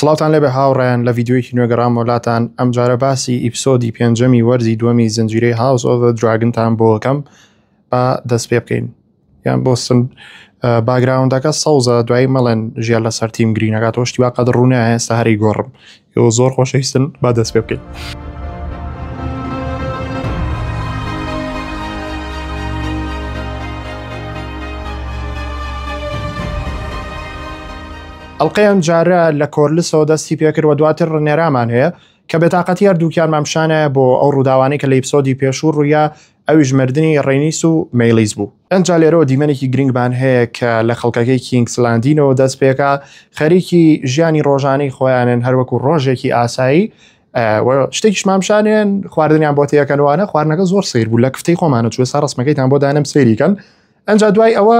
سڵاوتان لێبێ هاوڕێیان لە ڤیدیۆیەکی نوێ گەڕامەوە لاتان ئەمجارە باسی ئیپسۆدی پێنجەمی وەرزی دووەمی زنجیرەی هاوس ئۆف زە دراگنتان بۆ ئەکەم با دەست پێ بکەین یان بۆستن باگراوندەکە سەوزە دوایی مەڵێن ژیان لەسەر تیم گرینەکە تۆ شتی واقعد ڕوونە ئێستا هەری گۆڕم ئەو زۆر خۆشەویستن با دەست پێ بکەین. ئەڵقەی ئەمجارە لە کۆرلسەوە دەستی پێکرد و دواتر ڕنێرامان هەیە کە بێتاقەتی هەردووکیانمان پیشانایە بۆ ئەو ڕووداوانەی کە لە ئیپسۆدی پێشوو ڕوویا ئەویش مردنی ڕێنیس و مێلیس بوو. ئنجا لێرەوە دیمەنێکی گرنگمان هەیە کە لە خەڵکەکەی کینگس لاندینەوە دەست پێکا خەریکی ژیانی ڕۆژانەی خۆیانن هەر وەکو ڕۆژێکی ئاسایی و شتێکیشمان پیشانێن خواردنیان بۆ تێکەنوانە خواردنەکە زۆر سیر بوو لە کفتەی خۆمانە چوە سا ڕسمەکەیتان بۆ دانم سێریکەن ئەنجا دوای ئەوە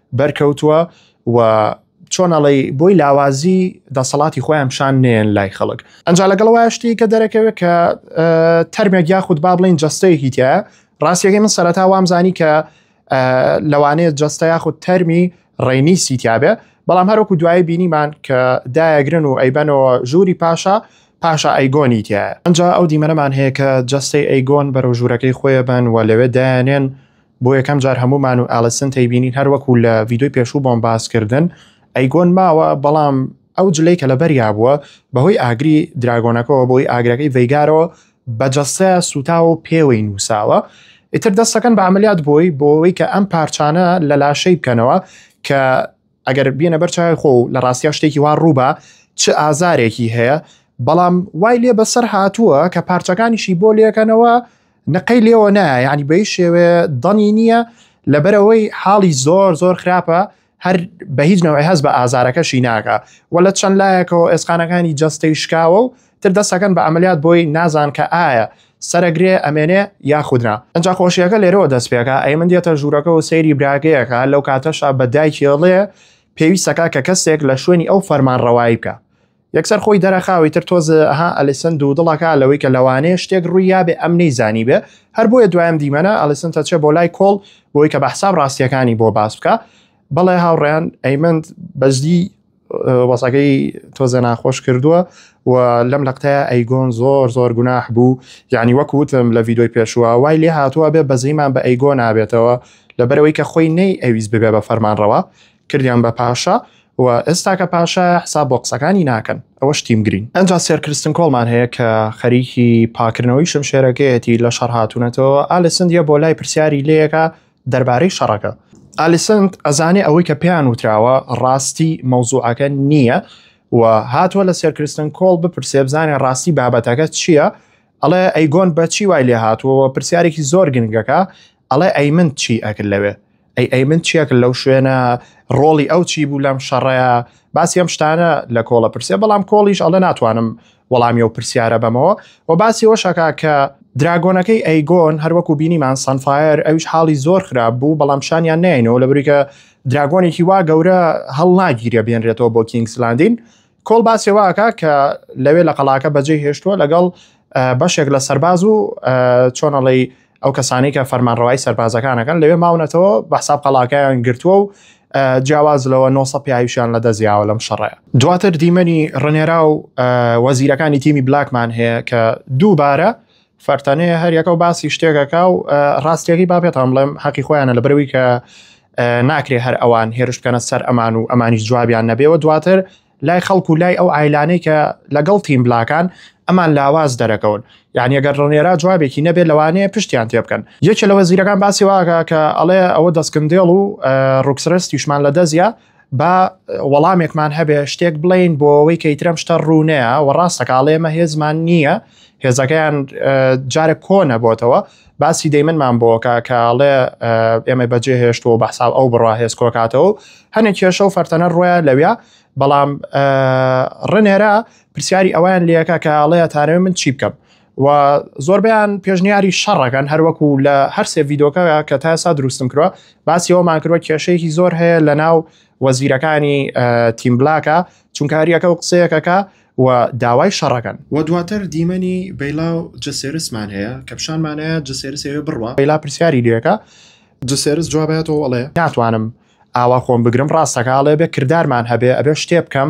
بەرکەوتووە و چۆن ئەڵی بۆی لاوازی دەسەڵاتی خۆیان پیشان نێن لای خەڵک ئەنج لەگەڵ وایشتی کە دەرەکەوێت کە تەرمێک یاخود با بڵین جستەیەکی تیا ڕاستیەکەی من سەرەتا وامزانی کە لەوانەیە جستە یاخود تەرمی ڕێنی سیتیابێ بەڵام هەروکو دوایی بینیمان کە دایەگرن و ئەیبەنەوە ژووری پاشا پاشا ئەیگۆنی تایە ئەجا ئەو دیمەنەمان هەیە کە جستەی ئەیگۆن بەرەو ژوورەکەی خۆیە بن و لەوێ دایانێن بۆ یەکەم جار هەموومان و ئالیسن تەیبینین هەر وەکو لە ڤیدیۆی پێشوو بۆم باس کردن ئەیگۆن ماوە بەڵام ئەو جلەی کە لەبەریا بووە بەهۆی ئاگری دراگۆنەکەەوە بۆی ئاگرەکەی ڤەیگارەوە بە جەستە سوتاوە و پێوەی نووساوە ئیتر دەستەکەن بە عملیات بۆی بۆەوەی کە ئەم پارچانە لە لاشەی بکەنەوە کە ئەگەر بینە بەرچای خۆ و لە ڕاستیا شتێکی وا ڕووبە چ ئازارێکی هەیە بەڵام وای لێ بەسەر هاتووە کە پارچەکانیشی بۆ لەکەنەوە نقەی لێوە نایە یعنی بەی شێوێ دەنی نییە لەبەرەوەی حاڵی زۆر زۆر خراپە هەر بە هیچ نەوەی هەز بە ئازارەکەشی ناکە و لە چەند لایەکەوە ئێسقانەکانی جەستەی شکاوە و تر دەستەکەن بە ئەمەلیات بۆی نازان کە ئایا سەرەگرێ ئەمێنێ یاخودنا ئەجا خۆشیەکە لێرەوە دەست پێەکە ئەی من دێتە ژوورەکە و سەیری براگەیەکە لەو کاتەشا بە دایکێڵێ پێویستەکە کە کەسێک لە شوێنی ئەو فەرمان ڕەوایی بکە یەکسەر خۆی دەرەخا ئیتر تۆز ها ئەلیسن دوودڵەکە لەوەی کە لەوانەیە شتێک ڕووی یابێ ئەم نەیزانی بێ هەر بۆیە دوایم دیمەنە ئەلیسن تەچێ بۆ لای کۆڵ بۆی کە بە حساب ڕاستیەکانی بۆ باس بکە بەڵێ هاوڕێیان ئەیمەند بەجدی وەسەکەی تۆزە ناخۆش کردووە و لەم لەقتەیە ئەیگۆن زۆر زۆر گوناح بوو یعنی وەک وتم لە ڤیددیوی پێشووە وای لێ هاتووە بێ بەزەیمان بە ئەیگۆ نابێتەوە لەبەرەوەی کە خۆی نەی ئەویز ببێ بە فەرمانڕەوە کردیان بە پاشا و ئێستا کە پاشایە حساب بۆ قسەکانی ناکەن ئەوەش تیم گرین. ئەنجا سێر کرستن کۆڵمان هەیە کە خەریکی پاکردنەوەی شمشێرەکەیەتی لە شەڕ هاتوونەتەوە ئالیسند یە بۆ لای پرسیاری لێکە دەربارەی شەڕەکە. ئالیسند ئەزانێ ئەوەی کە پێیان وتراوە ڕاستی مەوزوعەکە نییە و هاتووە لە سێر کرستن کۆڵ بپرسێ بزانێ ڕاستی بابەتەکە چییە ئەڵێ ئەیگۆن بە چی وای لێهاتووە پرسیارێکی زۆر گرنگەکە ئەڵێ ئەی من چی ئەکرد لەوێ ئەی ئەی من چیەکرد لەو شوێنە ڕۆڵی ئەو چی بوو لەم شەڕەیە باسی ئەم شتانە لە کۆڵە پرسێ بەڵام کۆڵیش ئەڵێ ناتوانم وەڵامی و پرسیارە بەمەوە و باسی وەشەکە کە دراگۆنەکەی ئەیگۆن هەروەکو بینیمان سانفایر ئەوش حاڵی زۆر خراپ بوو بەڵام شانیان نینەوە لە بریکە دراگۆنێکی وا گەورە هەڵناگیرە بێنرێتەوە بۆ کینگسلاندین کۆڵ باسی واکە کە لەوێ لە قەڵاکە بەجێ هێشتووە لەگەڵ بەشێک لە سەرباز و چۆنەڵی ئەو کەسانی کە فەرمانڕەوای سەربازەکانەکەن لەوێ ماونەتەوە بە حساب قەڵاکەیان گرتووە و جیاواز لەوە 900 پیاویشیان لە دەزیاوە لەم شەڕەیە دواتر دیمەنی ڕنێرا و وەزیرەکانی تیمی بلاکمان هەیە کە دووبارە فەرتەنێ هەر یەکە و باسی شتێکەکە و ڕاستیەکەی با پێتان بڵێم حەقی خۆیانە لە برەوەی کە ناکرێ هەر ئەوان هێرش بکەنە سەر ئەمان و ئەمانیش جوابیان نەبێەوە دواتر لای خەڵک و لای ئەو ئایلانەی کە لەگەڵ تیم بلاکان ئەمان لاواز دەرەکەون یعنی ئەگەر ڕنێرا جوابێکی نەبێت لەوانەیە پشتیان تێ بکەن یەکێ لەوە زیرەکان باسی واکە کە ئەڵێ ئەوە دەستکندێڵ و ڕوکسرستیشمان لە دەزیە با وەڵامێکمان هەبێ شتێک بڵین بۆ ئەوەی کە ئیترەم شتە ڕوونەیە و ڕاستەکە ئاڵێمە هێزمان نییە هێزەکەیان جارە کۆنە بۆتەوە باسی دەیمنمان بۆکە کاڵێ ئێمە بەجێ هێشتەوە بە حساب ئەو بڕا هێز کۆکاتەوە هەنێک کێشە و فەرتەنە ڕۆیە لەویا بەڵام ڕنێرە پرسیاری ئەویان لەکە کاڵەیە تارێ من چی بکەم و زۆربیان پێشنیاری شەڕەکەن هەروەکو لە هەر سێ ڤیدۆکە کە تا ئێستا دروستم کردوە باسی ئەومان کردوە کێشەیەکی زۆر هەیە لە ناو وەزیرەکانی تیم بلاکە چونکاریەکە و قسەیەکەکە و داوای شەڕەکەن و دواتر دیمەنی بەیلا و جەسێرسمان هەیە کە پیشانمانەیە جەسێرسەوێ بڕە بەیلا پرسیاری لەکە جسێرس جوابێتەوە ئەڵێ ناتوانم ئاوا خۆم بگرم ڕاستەکە ئاڵێ بێ کردارمان هەبێ ئەبێ شتێ بکەم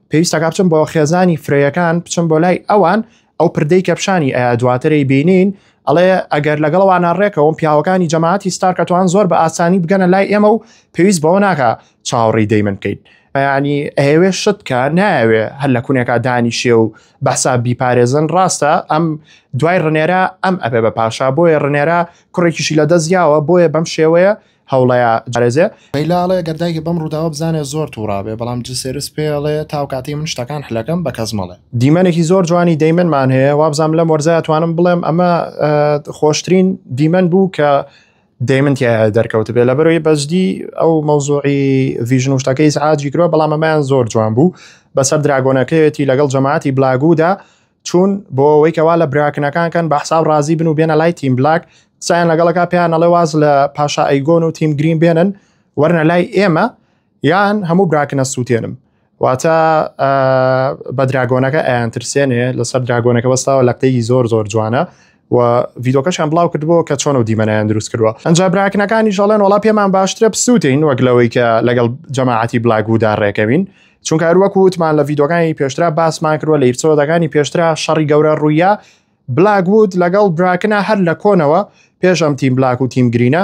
پێویستە کە بچم بۆ خێزانی فرەیەکان بچم بۆ لای ئەوان ئەو پردەی کەپشانی ئەیا دواتری بینین ئەڵێ ئەگەر لەگەڵوانە ڕێکەوەم پیاوەکانی جەماعتی ستارکەتوان زۆر بە ئاسانی بگەنە لای ئێمە و پێویست بەوە ناکە چاوەڕی دەی من بکەیت ینی ئەوێ شت کە ناوێ هەر لە کوونێکا دانیشێ و بەسا بیپارێزن ڕاستە ئەم دوای ڕنێرە ئەم ئەبێ بە پاشا بۆیە ڕنێرە کوڕێکیشی لە دەستیاوە بۆیە بەم شێوەیە هەوڵەیا جارێزێ. لەیلا ئەڵێ گەر دایکت بەم ڕووداوە بزانێ زۆر توڕابێ بەڵام جلسێرس پێی ئەڵێ تاو کاتەی من شتەکان حلەکەم بە کەس مەڵێ. دیمەنێکی زۆر جوانی دەیمن مان هەیە وابزانم لەم وەرزە ئەتوانم بڵێم ئەمە خۆشترین دیمەن بوو کە دەیمن تیایا دەرکەوت بێ لەبەرەوەی بەجدی ئەو مەوزوعی ڤژن و شتەکەی سعاجی کرۆ بەڵام ئەمەیان زۆر جوان بوو بەسەر دراگۆنەکەیەتی لەگەڵ جەماعەتی بلاگودا چوون بۆ ئەوەی کەوا لە براکنەکان کەن بە حساب ڕازی بن و بێنە لای تیم بلاک قسەیان لەگەڵەکە پێیان نەڵێ واز لە پاشا ئەیگۆن و تیم گرین بێنن وەرنە لای ئێمە یان هەموو براکنە سووتێنم واتە بە دراگۆنەکە ئەیان ترسێنێ لەسەر دراگۆنەکە بەستاوە لە قتەی زۆر زۆر جوانە و ڤیدۆکەشیان بڵاو کردبوو کە چۆن و دیمەنیان دروست کردووە ئەجا براکنەکانی ژەڵێن وڵا پێمان باشترە بسووتین وەک لەوەی کە لەگەڵ جەماعەتی بلاگودا ڕێکەوین چونکە هەروەک وتمان لە ڤیدۆگانی پێشترا باسمان کردوە لە ئیپسۆدەکانی پێشترا شەڕی گەورە ڕوویە بلاگوود لەگەڵ براکنە هەر لە کۆنەوە پێشم تیم بلاک و تیم گرینە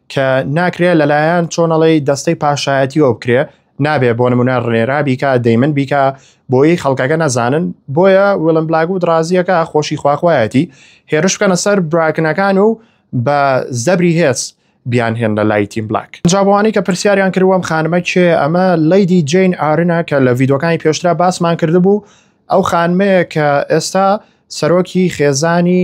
کە ناکرێ لەلایەن چۆنەڵی دەستەی پاشایەتیەوە بکرێ نابێ بۆ نمونە ڕێرا بیکە دەیمن بیکە بۆی خەڵکەکە نەزانن بۆیە وڵم بلاگ و درازیەکە خۆشی خواخوایەتی هێرش بکەنە سەر براکنەکان و بە زەبری هێز بیان هێن لە لای تیم بلاک جاوانی کە پرسیاریان کردوەم خانمە کێ ئەمە لەیدی جین ئارنە کە لە ڤیدۆکانی پێشترا باسمان کردبوو ئەو خانمەیە کە ئێستا سەرۆکی خێزانی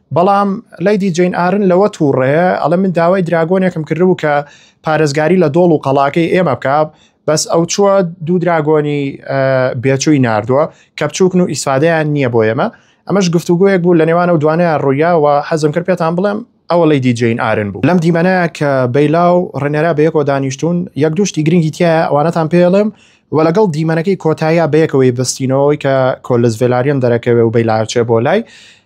بەڵام لەیدی جەین ئارن لەوە تووڕەیە ئەڵە من داوای دراگۆنێکم کردبوو کە پارێزگاری لە دۆڵ و قەڵاکەی ئێمە بکە بەس ئەو چووە دوو دراگۆنی بێچووی نردووە کە بچووکن و ئیسفادەیان نییە بۆ ئێمە ئەمەش گفتوگویەک بوو لە نێوان و دوانە ڕوویاوە حەزم کرد پێتان بڵێم ئەوە لی دی جین ئارن بوو لەم دیمەنە کە بەیلا و ڕێنەرا بەیەکەوە دانیشتون یەک دوشتی گرنگی تیا ئەوانەتان پێڵێم و لەگەڵ دیمەنەکەی کۆتاییا بەیەکەوەی بستینەوەی کە کۆلس ڤلاریان دەرەکەوێ و بەیلاچێ بۆ لای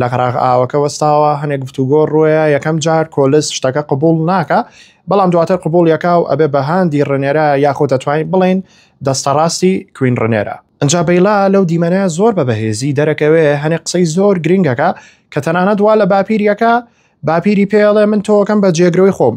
لە قراغ ئاوەکە وەستاوە هەنێک گفتوگۆ ڕۆیە یەکەم جار کۆلس شتەکە قبول ناکە بەڵام دواتر قبول یەکا و ئەبێ بە هاندی ڕنێرە یاخۆ دەتوانین بڵین دەستە ڕاستی کوین ڕنێرە ئەجا بەیلا لەو دیمەنە زۆر بە بەهێزی دەرەکەوێ هەنێ قسەی زۆر گرنگەکە کە تەنانەت وا لە باپیریەکە باپیری پێڵێ من تۆکەم بە جێگرەوەی خۆم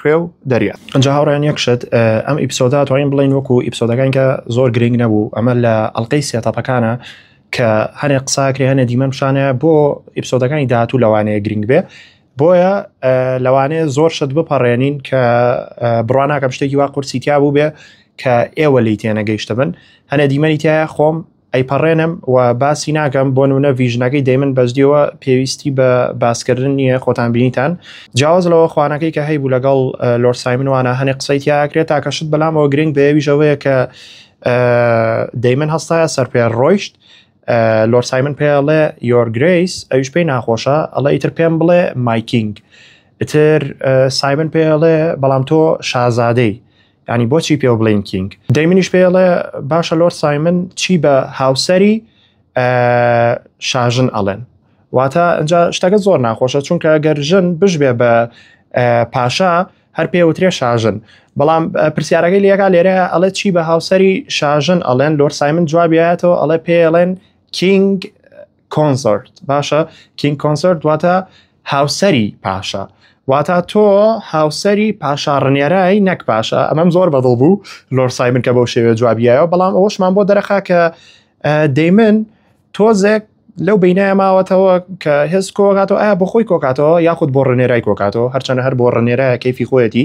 خوێ و دەریا ئەجا هاوڕیان یەک شت ئەم ئیپسۆدا توانین بڵین وەکو ئیپسۆدەکان کە زۆر گرنگ نەبوو ئەمە لە ئەلقەی سێتاپەکانە کە هەنێ قساکرێ هەنێ دیمەم شانە بۆ ئیپسۆدەکانی داهاتوو لەوانەیە گرنگ بێ بۆیە لەوانەیە زۆر شت بپەڕێنین کە بڕواناکەم شتێکی وا قورسی تیا بوو بێ کە ئێوە لی تێنەگەیشتە بن هەنێ دیمەنی تایە خۆم ئەیپەڕێنم و باسی ناکەم بۆ نمونە ڤیژنەکەی دەیمن بەجدیەوە پێویستی بە باسکردن نییە خۆتان بینیتان جیاواز لەوە خوانەکەی کە هەیبوو لەگەڵ لۆر سایمن وانە هەنێ قسەی تیاکرێت تاکەشت بەلامەوە گرنگ بەیەویژەوەیە کە دەیمن هەستایە سەر پێ ڕۆیشت لۆر سایمن پێڵێ یۆر گریس ئەویش پێی ناخۆشە ئەڵە ئیتر پێم بڵێ مایکینگ ئیتر سایمن پێڵێ بەڵام تۆ شازادەی ینی بۆچی پێوە بڵین کینگ دەی منیش پێڵێ باشە لۆر سایمن چی بە هاوسری شاژن ئەڵێن واتە ئەجا شتەکە زۆر ناخۆشە چونکە گەر ژن بشبێ بە پاشا هەر پێوترێ شاژن بەڵام پرسیارەکەی لەکە لێرە ئەڵێ چی بە هاوسری شاژن ئەڵێن لۆر سایمن جوابیاتەوە ئەڵێ پێڵێن کینگ کۆنسرت باشە کینگ کۆنسرت دواتە هاوسری پاشا واتا تۆ هاوسری پاشا ڕنێرای نەک پاشا ئەمەم زۆر بەدڵ بوو لۆر سایمن کە بەو شێوێ جوابیایەوە بەڵام ئەوشمان بۆ دەرەخا کە دەیمن تۆزێک لەو بینایە ماوەتەوە کە هێز کۆکاتەوە ئایا بۆ خۆی کۆکاتەوە یاخود بۆ ڕنێرای کۆکاتەوە هەرچەنە هەر بۆ ڕنێرای کەفی خۆیەتی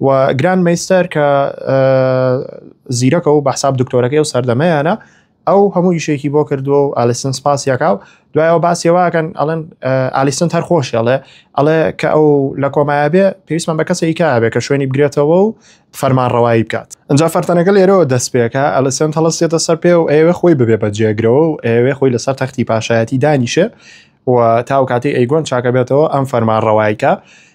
و گراند مەیستەر کە زیرەکە و بەحساب دکتۆرەکەی و سەردەمەیانە ئەو هەموو ئیشێکی بۆ کردووە و ئالیسن سپاسیەکە و دوایەوە باسیەوەکەن ئەڵەن ئالیسن هەر خۆشیڵێ ئەڵێ کە ئەو لە کۆمایە بێ پێویستمان بە کەسێکی کابێ کە شوێنی بگرێتەوە و فەرمان ڕەوایی بکات ئەجا فەرتەنەکە لێرەوە دەست پێکە ئەلسن هەڵستێتە سەر پێ و ئێوە خۆی ببێ بە جێگرەوە و ئێوێ خۆی لەسەر تەختی پاشایەتی دانیشێ و تاو کاتی ئەیگۆن چاکە بێتەوە ئەم فەرمان ڕەوایکە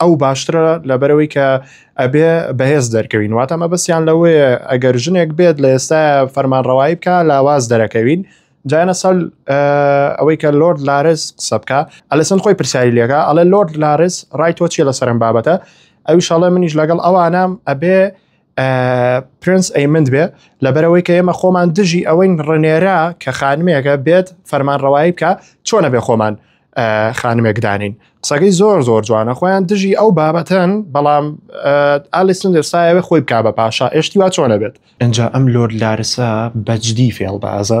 ئەو باشترە لەبەرەوەی کە ئەبێ بەهێز دەرکەوین واتە مەبەستیان لەوەیە ئەگەر ژنێک بێت لە ئێستا فەرمانڕەوایی بکە لاواز دەرەکەوین جایانە سەل ئەوەی کە لۆرد لارس قسە بکە ئەلسن خۆی پرسیاری لێگا ئەڵێ لۆرد لارس ڕای تۆ چیە لە سەرم بابەتە ئەوی شەڵێ منیش لەگەڵ ئەوانام ئەبێ پرنس ئەیمند بێ لەبەرەوەی کە ئێمە خۆمان دژی ئەوەین ڕنێرا کە خانمێکە بێت فەرمان ڕەوایی بکە چۆنە بێ خۆمان خانمێک دانین قسەکەی زۆر زۆر جوانە خۆیان دژی ئەو بابەتەن بەڵام ئالیسن دەرسایەوە خۆی بک بە پاشا ئێشتی وا چۆنە بێت ئەجا ئەم لۆر لارسا بەجدی فێڵ بازە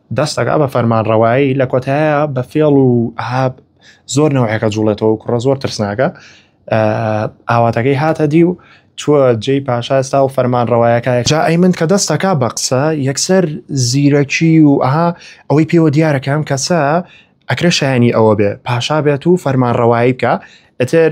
دەستەکە بە فەرمانڕەوایی لە کۆتایە بە فێڵ و ئاب زۆر نەوەیەکە جوڵێتەوە کوڕە زۆر ترسناکە ئاواتەکەی هاتە دی و چوە جێی پاشا ئێستا و فەرمان ڕەوایەکە جا ئەی من کە دەستەکە بە قسە یەکسەر زیرەکی و ئەها ئەوەی پێوە دیارەکەم کەسە ئەکرێ شایانی ئەوە بێ پاشا بێت و فەرمان ڕەوایی بکە ئەتر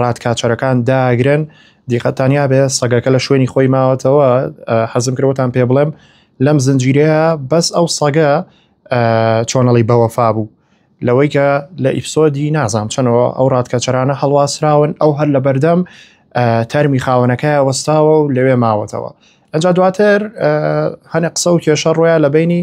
ڕادکاچەرەکان داگرن دیقەتانیا بێ سەگەکە لە شوێنی خۆی ماوەتەوە حەزم کردوەتان پێ بڵێم لەم زنجیرەیە بەس ئەو سەگە چۆنەڵی بەوەفا بوو لەوەی کە لە ئیفسۆدی نازام چەنەوە ئەو ڕادکەچەرانە هەڵواسراون ئەو هەر لە بەردەم تەرمی خاونەکە وەستاوە و لەوێ ماوەتەوە ئەجا دواتر هەنێ قسە و کێشە ڕۆیان لە بینی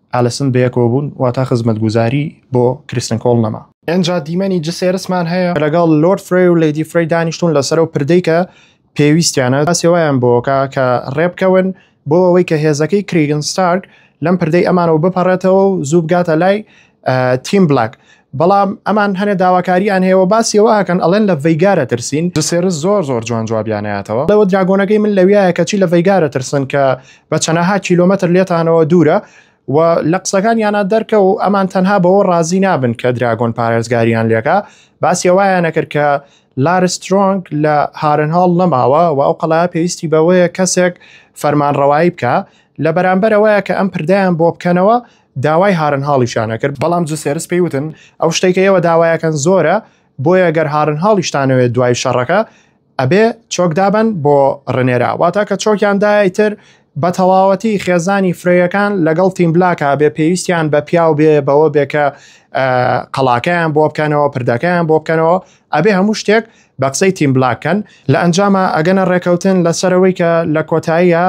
ئالسن بەیەکەوەبوون واتا خزمەتگوزاری بۆ کریستن کۆڵ نەما. ئینجا دیمەنی جسێرسمان هەیە لەگەڵ لۆرد فرەی و لەیدی فرەی دانیشتوون لەسەر ئەو پردەی کە پێویستیانە تا سێوایان بۆکا کە ڕێبکەون بۆ ئەوەی کە هێزەکەی کریگن ستارک لەم پردەی ئەمانەوە بپەڕێتەوە و زوو بگاتە لای تیم بلاک بەڵام ئەمان هەنێ داواکاریان هەیەەوە باسیەوەکەن ئەڵێن لە ڤیگارە ترسین سێرس زۆر زۆر جوان جوابیاناتەوە لەوە دراگۆنەکەی من لەویایە کەچی لە ڤیگارە ترسن کە بە چەنەها کیلومتر لێتانەوە دوورە و لە قسەکان یانە دەرکە و ئەمان تەنها بەوە ڕازی نابن کە دراگۆن پارێزگاریان لێکە باسیەوەیانە کرد کە لارسترۆنگ لە هارن هاڵ نەماوە و ئەو قەڵا پێویستی بەوەیە کەسێک فەرمانڕەوایی بکە لە بەرامبەرەوەیە کە ئەم پردیان بۆ بکەنەوە داوای هارنهاڵیشیان ئەکرد، بەڵام جوسێرس پێی وتن ئەو شتەی کە ئێوە داوایەکەن زۆرە، بۆیە گەر هارنهاڵیشتانەوێت دوای شەڕەکە ئەبێ چۆک دابەن بۆ ڕنێرا، واتە کە چۆکیان دا ئیتر بە تەواوەتی خێزانی فرەیەکان لەگەڵ تیم بلاک ئەبێ پێویستیان بە پیاو بێ بەوە بێ کە قەڵاکەیان بۆ بکەنەوە، پردەکەیان بۆ بکەنەوە، ئەبێ هەموو شتێک بە قسەی تیم بلاکەن لە ئەنجاما ئەگەنە ڕێکەوتن لەسەرەوەی کە لە کۆتاییە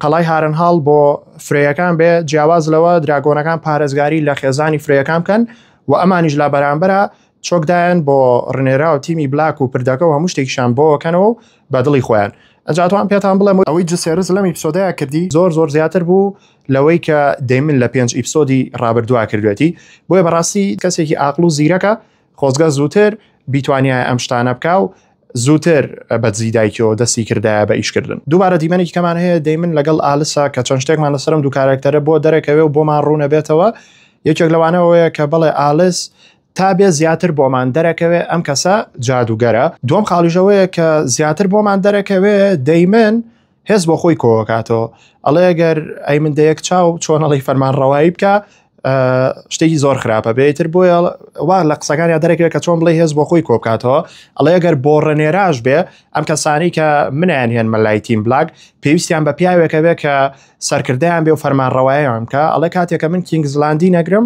قەڵای هارنهاڵ بۆ فرەیەکان بێ جیاواز لەوە دراگۆنەکان پارێزگاری لە خێزانی فرەیەکان بکەن و ئەمانیش لا بەرامبەرە چۆکدایەن بۆ ڕنێرا و تیمی بلاک و پردەکە و هەموو شتێکیشان بۆکەنەوە و بە دڵی خۆیان ئەجاتوان پێتان بڵێم ئەوەی جسێرز لەم ئیپسۆدەیە کردی زۆر زۆر زیاتر بوو لەوەی کە دەمن لە پێنج ئیپسۆدی ڕابردووا کردوێتی بۆیە بەڕاستی کەسێکی ئاقل و زیرەکە خۆزگە زووتر بیتوانیای ئەم شتانە بکە و زووتر بە دزی دایکەوە دەستی کردایە بە ئیشکردن دووبارە دیمەنێکی کەمان هەیە دەیمن لەگەڵ ئالسا کە چەند شتێکمان لەسرم دوو کارکتەرە بۆ دەرەکەوێ و بۆمان ڕوونە بێتەوە یەکێک لەوانەوەیە کە بڵێ ئالس تا بێ زیاتر بۆمان دەرەکەوێ ئەم کەسە جادوگەرە دوم خاڵیژەوەیە کە زیاتر بۆمان دەرەکەوێ دەیمن هێز بۆ خۆی کۆکاتەوە ئەڵێ گەر ئەی من دەیەک چاو چۆن ئەڵی فەرمان ڕەوایی بکە شتێکی زۆر خراپە بێتتر بۆیە وا لە قسەکانیا دەرەکەێت کە چۆن بڵێ هێز بۆ خۆی کۆبکاتەوە ئەڵێ گەر بۆ ڕێنێراش بێ ئەم کەسانی کە منیان هێن مەلای تیم بلاک پێویستیان بە پیاوێکە بێ کە سەرکردیان بێ و فەرمانڕەوایان کە ئەڵێ کاتێکە من کینگ زلاندی نەگرم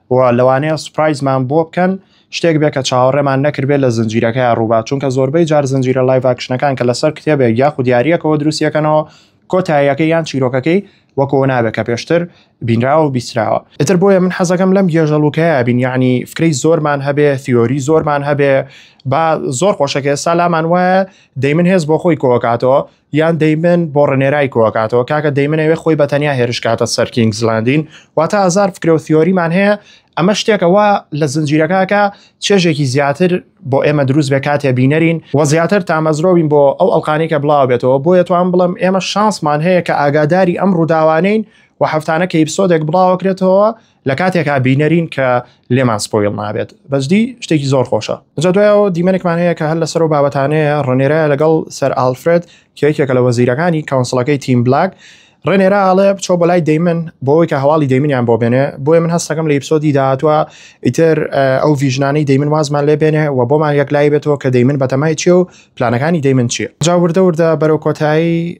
و لەوانەیە سوپرایزمان بۆ بکەن شتێک بێ کە چاوەڕێمان نەکردبێت لە زنجیرەکەی ڕووبا چونکە زۆربەی جار زنجیرە لایڤ ئاکشنەکان کە لەسەر کتێبێک یاخود یاریەکەوە دروستیەکەنەوە کۆتاییەکە یان چیرۆکەکەی وەکەوە نابێت کە پێشتر بینراوە و بیسراوە ئتر بۆیە من حەزەکەم لەم گێژەڵوکەیە بین یعنی فکرەی زۆرمان هەبێ ثیۆری زۆرمان هەبێ با زۆر خۆشەکە ئێستا لامان وایە دەی من هێز بۆ خۆی کۆکاتەوە یان دەیمن بۆ ڕنێرای کۆکاتەوە کاکە دەیمنەوێ خۆی بە تەنیا هێرشکاتە سەر کینگزلاندین واتە ئازار فکرە و تیۆریمان هەیە ئەمە شتێکەوە لە زنجیرەکەکە چێژێکی زیاتر بۆ ئێمە دروست بێ کاتێ بینەرین و زیاتر تامەزرۆین بۆ ئەو ئەلقانی کە بڵاو بێتەوە بۆیە توان بڵم ئێمە شانسمان هەیە کە ئاگاداری ئەم ڕووداوانین و هەفتانە کە ئیپسۆدێک بڵاوەکرێتەوە لە کاتێکا بینەرین کە لێمان سپۆیل نابێت بەجدی شتێکی زۆر خۆشە جا دوایەوە دیمەنێکمان هەیە کە هەر لەسەر و بابەتانەیە ڕنێرایە لەگەڵ سەر ئالفرێت کێکێکە لە وەزیرەکانی کەونسڵەکەی تیم بلاک ڕێنێرا ئاڵێ بچۆ بۆ لای دەیمن بۆی کە هەواڵی دەیمنیان بۆ بێنێ بۆیە من هەستەکەم لە ئیپسۆدی داهاتوە ئیتر ئەو ڤژنانەی دەیمن وازمان لێ بێنێ و بۆمان یەک لای بێتەوە کە دەیمن بەتەمای چی و پلانەکانی دەیمن چیە جاوردەوردە بەرەو کۆتایی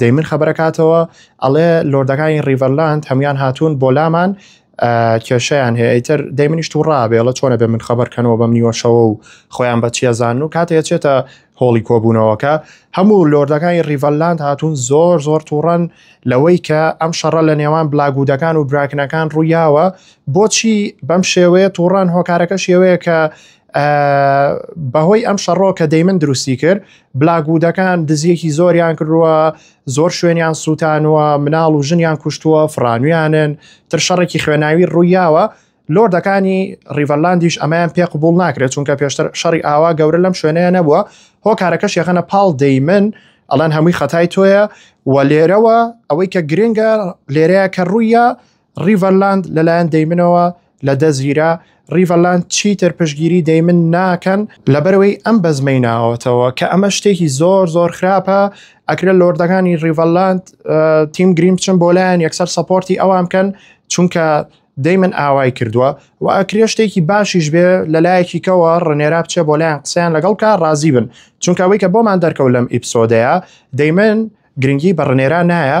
دەیمن خەبەرەکاتەوە ئەڵێ لۆردەکانی ڕیڤەرلاند هەموان هاتوون بۆ لامان کێشیان هەیە ئیتر دەی منیش تو ڕابێڵە چۆنە بێ من خەبەرکەنەوە بەم نیوەشەوە و خۆیان بە چێزان و کاتێ چێتە هۆڵی کۆبوونەوەکە هەموو لۆردەکانی ریڤەلاند هاتوون زۆر زۆر تووڕەن لەوەی کە ئەم شەڕە لە نێوان بلاگودەکان و براکنەکان ڕوویاوە بۆچی بەم شێوەیە تووڕان هۆکارەکە شێوەیە کە بەهۆی ئەم شەڕۆ کە دەیمن دروستی کرد بلاکوودەکان دزیەکی زۆریان کردووە زۆر شوێنیان سووتانوە مناڵ و ژنیان کوشتووە فڕانویانن تر شەڕێکی خوێناوی ڕوویاوە لۆردەکانی ڕیڤەرلاندیش ئەمەیان پێ قوبول ناکرێت چونکە پێشتر شەڕی ئاوا گەورە لەم شوێنەیە نەبووە هۆکارەکەش یەخەنە پاڵ دەیمن ئەڵەن هەمووی خەتای تۆیە و لێرەوە ئەوەی کە گرنگە لێرەیە کە ڕوویە ڕیڤەرلاند لەلایەن دەیمنەوە لە دەستگیرا، ڕیڤەرلاند چیتر پشتگیری دەیمن ناکەن، لەبەرئەوەی ئەم بەزمەی ناوەتەوە کە ئەمە شتێکی زۆر زۆر خراپە، ئەکرێت لۆردەکانی ڕیڤەرلاند تیم گرین بچن بۆ لایان یەکسەر سەپۆرتی ئەوان بکەن چونکە دەیمن ئاوای کردووە و ئەکرێ شتێکی باشیش بێ لە لایەکی کەوە ڕنێرا بچێ بۆ لایان قسەیان لەگەڵ کا ڕازی بن چونکە ئەوەی کە بۆمان دەرکەوت لەم ئیپسۆدەیە دەیمن گرنگی بە ڕنێرا نایە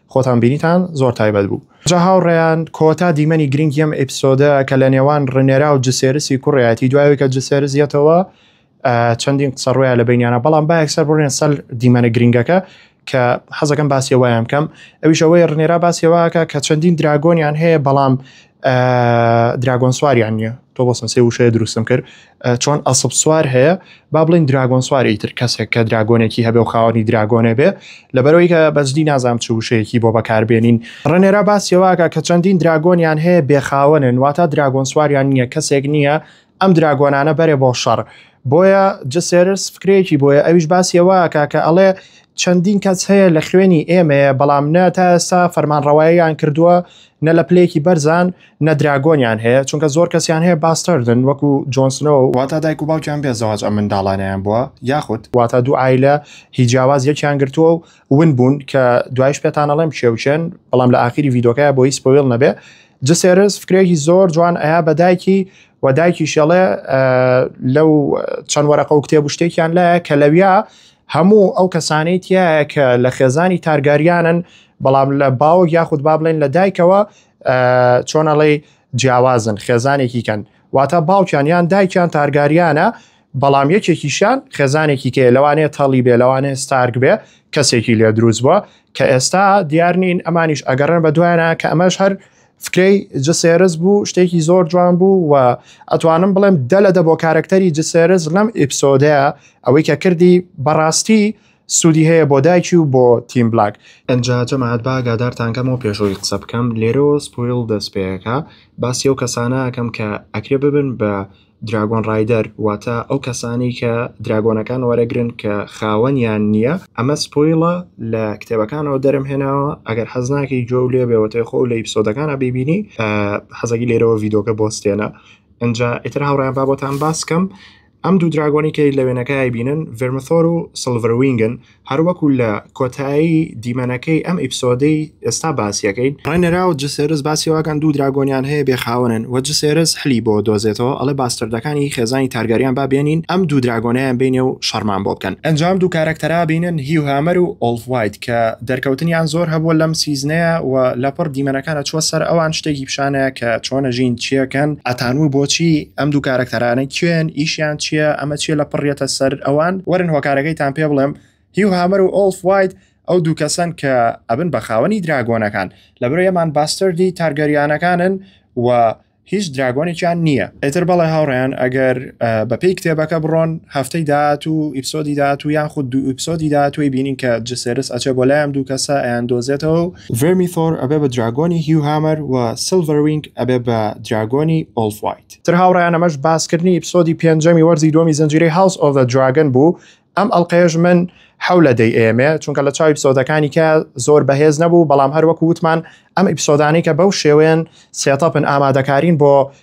خۆتان بینیتان زۆر تایبەت بوو. جا هاوڕێیان کۆتا دیمەنی گرنگی ئەم ئیپسۆدە کە لە نێوان ڕنێرا و جسێرسی کوڕێتی دوای ئەوەی کە جسێرس یەتەوە چەندین قسە ڕویان لە بینیانە بەڵام با یەکسەر بڕێن سەر دیمەنە گرنگەکە کە حەزەکەم باسیەوەیان کەم ئەویشەوەی ڕنێرا باسیەوەکە کە چەندین دراگۆنیان هەیە بەڵام دراگۆن سواریان نییە تۆ بۆسم سێ وشەیە دروستم کرد چۆن ئەسب سوار هەیە با بڵین دراگۆن سواری تر کەسێک کە دراگۆنێکی هەبێ و خاوەنی دراگۆنێ بێ لەبەرەوەی کە بەجددی نازانام چ وشەیەکی بۆ بەکاربێنین ڕێنێرا باسیەوەکە کە چەندین دراگۆنیان هەیە بێخاوەنن واتە دراگۆن سواریان نییە کەسێک نییە ئەم دراگۆنانە بەرێ بۆ شەڕ. بۆیە جسێرس فکرەیەکی بۆیە ئەویش باسی ئەوەکە کە ئەڵێ چەندین کەس هەیە لە خوێنی ئێمەیە بەڵام نە تا ئێستا فەرمانڕەواییان کردووە نە لە پلەیەکی بەرزان نە دراگۆنیان هەیە چونکە زۆر کەسیان هەیە باستەردن وەکو جۆنسنۆ و واتا دایک و باوکیان بێ زەواج ئەم منداڵانیان بووە یاخود واتا دوو عایلە هی جیاواز یەکیان گرتووە و ون بوون کە دوایش پێتان ئەڵێم کێ و کێن بەڵام لە ئاخیری ڤیدۆکەیا بۆ هی سپۆیڵ نەبێ جسێرس فکرێکی زۆر جوان ئەیا بە دایکی و دایکیش ئەڵێ لەو چەند وەرەقە و کتێب و شتێکیان لایە کە لەویا هەموو ئەو کەسانەی تایە کە لە خێزانی تارگاریانن بەڵام لە باوە یاخود با بڵێن لە دایکەوە چۆنەڵی جیاوازن خێزانێکی کەن واتە باوکیان یان دایکیان تارگاریانە بەڵام یەکێکیشیان خێزانێکی تێ لەوانەیە تەڵی بێ لەوانەیە ستارک بێ کەسێکی لێ دروست بووە کە ئێستا دیار نین ئەمانیش ئەگەڕێن بە دوایانە کە ئەمەش هەر فکرەی جسێرز بوو شتێکی زۆر جوان بوو و ئەتوانم بڵێم دە لە دە بۆ کارەکتەری جسێرز لەم ئیپسۆدەیە ئەوەی کە کردی بەڕاستی سوودی هەیە بۆ دایکی و بۆ تیم بلاک ئەجا جەماعات با گادارتانکەمەوە پێشەوەی قسە بکەم لێرەوە سپۆیل دەست پێەکە باسی ئەو کەسانەکەم کە ئەکرێ ببن بە دراگۆن ڕایدەر واتە ئەو کەسانەی کە دراگۆنەکان وەرەگرن کە خاوەنیان نییە ئەمە سپۆیڵە لە کتێبەکانەوە دەرم هێناوە ئەگەر حەز ناکەی جۆ لێ بێەوەێ خۆ لە ئیپسۆدەکانە بیبینی حەزەکی لێرەوە یددیوکە بۆستێنە ئەجا ئیتر هاوڕیان بابەتان باسکەم ئەم دوو دراگۆنی کەی لە وێنەکەی بینن ڤرمثۆر و سلڤروینگن هەروەکو لە کۆتایی دیمەنەکەی ئەم ئیپسۆدەی ئێستا باسیەکەین ڕێنێرا و جسێرس باسی ئەوەکەن دوو دراگۆنیان هەیە بێ خاوەنن وە جسێرس حلی بۆ دۆزێتەوە ئەڵێ باستەردەکانی خێزانی تارگاریان با بێنین ئەم دوو دراگۆنەیان بینێ و شەڕمان بۆ بکەن. ئەنجام دوو کارەکتەرا بینن هیو هامەر و ئۆڵف وایت کە دەرکەوتنیان زۆر هەبووە لەم سیزنەیا و لەپڕ دیمەنەکان ئەچووە سەر ئەوان شتێکی پیشانەیە کە چۆنە ژین چیەکەن ئەتانوو بۆچی ئەم دوو کارەکتەرانە کێن ئیشیان چیە ئەمە چیە لە پڕیەتە سەر ئەوان وەرن هۆکارەکەیتان پێ بڵێم هیو هامەر و ئۆڵف وایت ئەو دوو کەسەن کە ئەبن بە خاوەنی دراگۆنەکان لەبرۆ یەمان باستردی تارگەریانەکانن و هیچ دراگۆنێکیان نییە ئیتر بەڵێ هاوڕیان ئەگەر بەپی کتێبەکە بڕۆن هەفتەی داات و ئیپسۆدی داات و یان خود دوو ئیپسۆدی داات توی بینین کە جسێرس ئەچێ بۆ لایەم دوو کەسە ئەیان دۆزێتەوە و ڤێرمیثۆر ئەبێ بە دراگۆنی هیو هامەر و سیلڤەر وینگ ئەبێ بە دراگۆنی ئۆڵف وایت. تر هاوڕێیان ئەمەش باسکردنی ئیپسۆدی پێنجەمی وەرزی دووەمی زنجیرەی هاوس ئۆف زە دراگن بوو ئەم ئەڵقەیەش من حەو لە دەی ئەیەمێ چونکە لە چاو ئیپسۆدەکانی کە زۆر بەهێز نەبوو بەڵام هەروەکو وتمان ئەم ئیپسۆدانەی کە بەو شێوەیەن سێتەپن ئامادەکارین بۆ